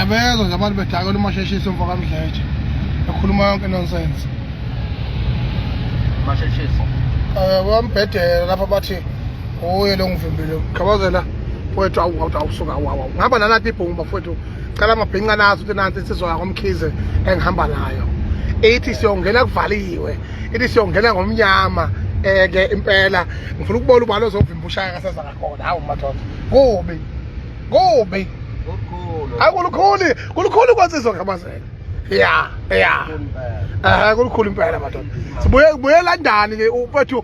ngiyabezwa nje abantu bedakela umasheshisi umfo kamdletshe ekhuluma yonke nonsense masheshisi um eh, bambhedela lapha bathi uye lo ngivimbile khabazela mfowethu awuthi awusuka wawa ngihamba nalapha ibhungu bafowethu cela amabhinca nazo ukuthi nansi insizwa yakomkhize engihamba nayo ithi siyongena kuvaliwe ithi siyongena ngomnyama eke eh, impela ngifuna ukubona ubalo ozovimba ushaya kaseza ngakhona hawu madoda kubi kubi hayi kulukhulu kulukhulu kwansizwa ngamazela ya ya um kulukhulu impela madoda sibuye londani ke mfowethu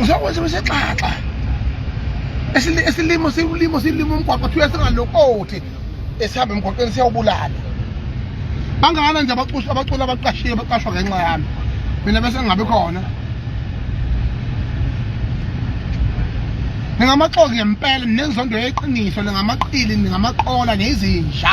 uzokwenza besexaxa esilimo siwulimo silimo umgwaqo kuthiwa singalokothi esihamba emgwaqweni siyawubulala bangakana nje abaculi abaculi abaqashiwe baqashwa ngenxa yami mina bese ngingabi khona ningamaxoki ngempela ninenzondo yeqiniso ningamaqili ningamaqola nezinja